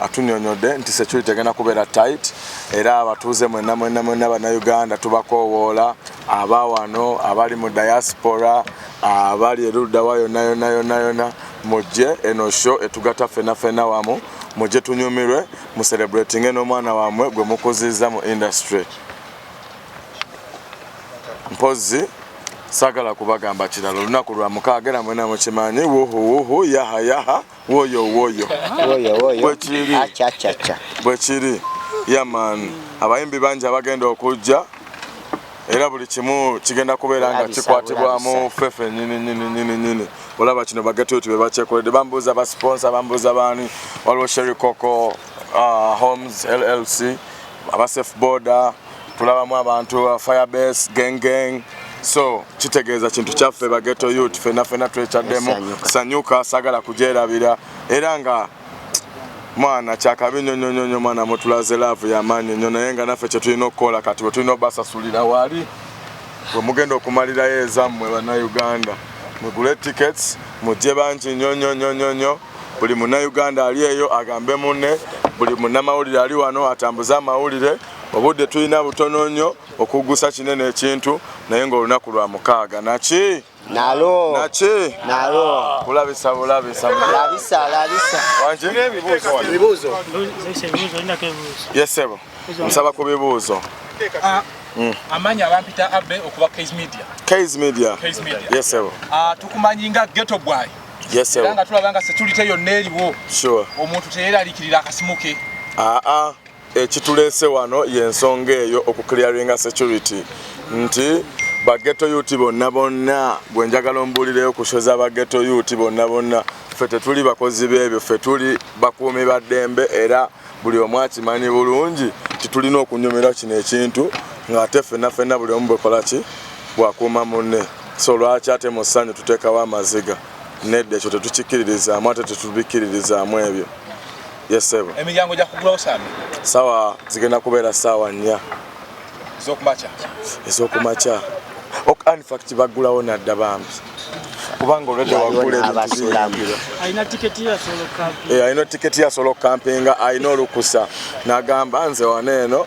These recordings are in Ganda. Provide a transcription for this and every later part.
atunyonyodde nti security egenda kubeera tight era abatuuze mwenna mwenna mwenna bannayuganda tubakoowoola aba wano abali mu diaspora abali eruddawa yonna yonna yonna yonna mujje eno sho etugata fena fena wamu mujje tunyumirwe mu celebratinge n'omwana wamwe gwe mukuzizza mu industry mpozzi sagala kubagamba kirala olunaku lwa mukaaga era mwena mukimanyi wuhuwuhu yahayaha yaha. woyo woyo woyo woyo bwekiri acha acha acha bwekiri yaman abayimbi bangi abagenda okujja era buli kimu kigenda kubeera nga kikwatibwamu fefe nyini nyini nyini nyini olaba kino bagetuti bebakyekoledde bambuuza basponsa bambuuza baani waliwo sherikoko uh, homes llc abasef boda tulabamu abantu uh, fire base gang gang so kitegeeza kintu kyaffe bageto yut fena fena twekyaddemu sanyuka sagala kujerabira era nga mwana kyakabi nyo nyo nyo nyo mwana mutulaze love ya manyo nyo naye nga naffe kyetulina okukola kati bwetulina obasasulira wali wemugenda okumalirayo ezammwe banauganda mugule tickets mujje bangi nyo nyo nyo nyo nyo buli munauganda ali eyo agambe munne buli munamawulire ali wano atambuze amawulire obudde tulina butono nnyo okuggusa kinene ekintu naye ng'olunaku lwa mukaaga naki nalo naki nalo kulabisa bulabisa labisa labisa wangi ebibuuzo yesebo nsaba ku bibuuzo ah, mm. amanyi abampita abe okuba kais media kais media yesebo ah, tukumanyi nga geto bwayi yesebo nga tulaba nga security yonna eriwo omuntu teyeralikirira akasimu ke aa ah, Ekituleese wano y'ensonga eyo okuclearinga security nti bageto yuti bonna bonna gwe njagala ombuulireyo kushoza bageto yuti bonna bonna ffe tetuli bakozi b'ebyo ffe tuli bakuumi ba ddembe era buli omu akimanyi bulungi nti tulina okunyumira kino ekintu ng'ate ffenna ffenna buli omu bwekola ki bwakuuma munne so lwaki ate mu ssanyu tuteekawo amaziga nedda ekyo tetukikkiririzaamu ate tetubikkiririzaamu ebyo Yes sebo. Emiryango gya kugulawo sami. Sawa zigenda kubeera sawa nnya. Ezokumacha. Ezokumacha. Ok in fact bagulawo nadda bambi. Kubanga olwedde wagula ebintu. Alina tiketi ya solo camping. Eh, alina tiketi ya solo camping, alina olukusa. Nagamba nze wano eno.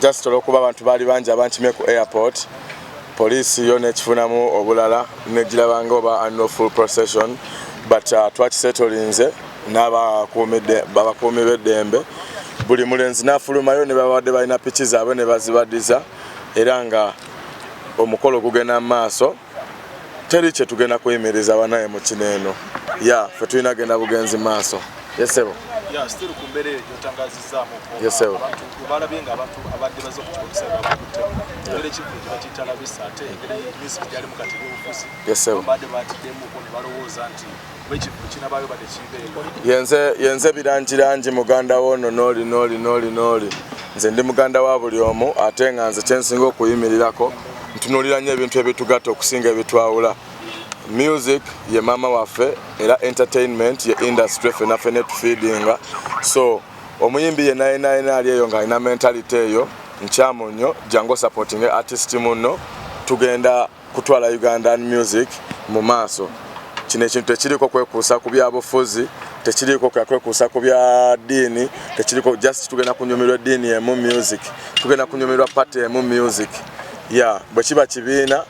just olwokuba abantu baali bangi abankimye ku airport poliisi yo nekifunamu obulala negirabanga oba annual full procession but uh, twakisetolinze n'abakuumi b'eddembe buli mulenzi n'afulumayo ne babadde balina piki zaabwe ne bazibadiza era nga omukolo gugenda mu maaso teri kyetugenda kuyimiriza banaye mukino eno ya fe tulina genda bugenzi maaso yesebo yesebo yenze yenze birangi rangi muganda wono noli noli noli noli nze ndi muganda wa buli omu ate nga nze kyensinga okuyimirirako ntunulira nnyo ebintu ebitugatta okusinga ebitwawula music ye maama waffe era entertainment ye industry fena fena etufeedinga so omuyimbi ye naye naye naali eyo ng'alina mentality eyo nkyamu nnyo jangu osupportinge artist munno tugenda kutwala Ugandan music mu maaso. Kino ekintu tekiriko kwekuusa ku byabufuzi, tekiriko kwekuusa ku bya ddiini, tekiriko just tugenda kunyumirwa eddiini emu music, tugenda kunyumirwa party emu music. Ya bwe kiba kibiina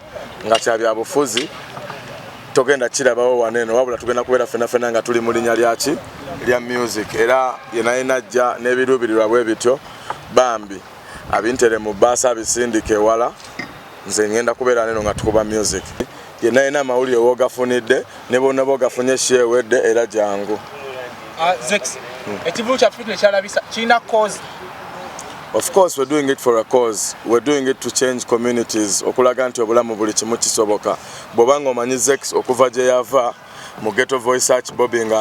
nga kya byabufuzi togenda kirabawo waneno wabula tugenda kubeera fenafena nga tuli mu linya lyaki lya music era yenayena ajja n'ebiruubirirwa bwe bityo bambi abintere mu baasa abisindika ewala nze ngenda kubeera neno nga tukuba music yenna yena amawulire wogafunidde ne bonna bogafunye shewedde era jangu ah, hmm. ekivulu kyaffe tekyalabisa kirina cause of course we're doing it for a cause we're doing it to change communities okulaga nti obulamu buli kimu kisoboka bwoba nga omanyi zex okuva gye yava mu ghetto voice search bobi nga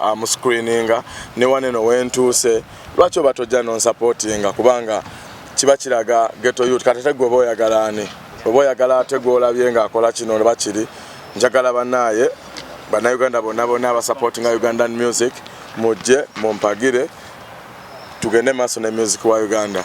amuscreeninga ne waneno wentuuse lwaki oba tojja nonsupportinga kubanga kiba kiraga ghetto youth kati ate gwe oba oyagala ani oba oyagala ate gwolabye nga akola kino oba kiri njagala banaye banauganda bonna bonna abasupportinga ugandan music mujje mumpagire tugende maaso ne music wa uganda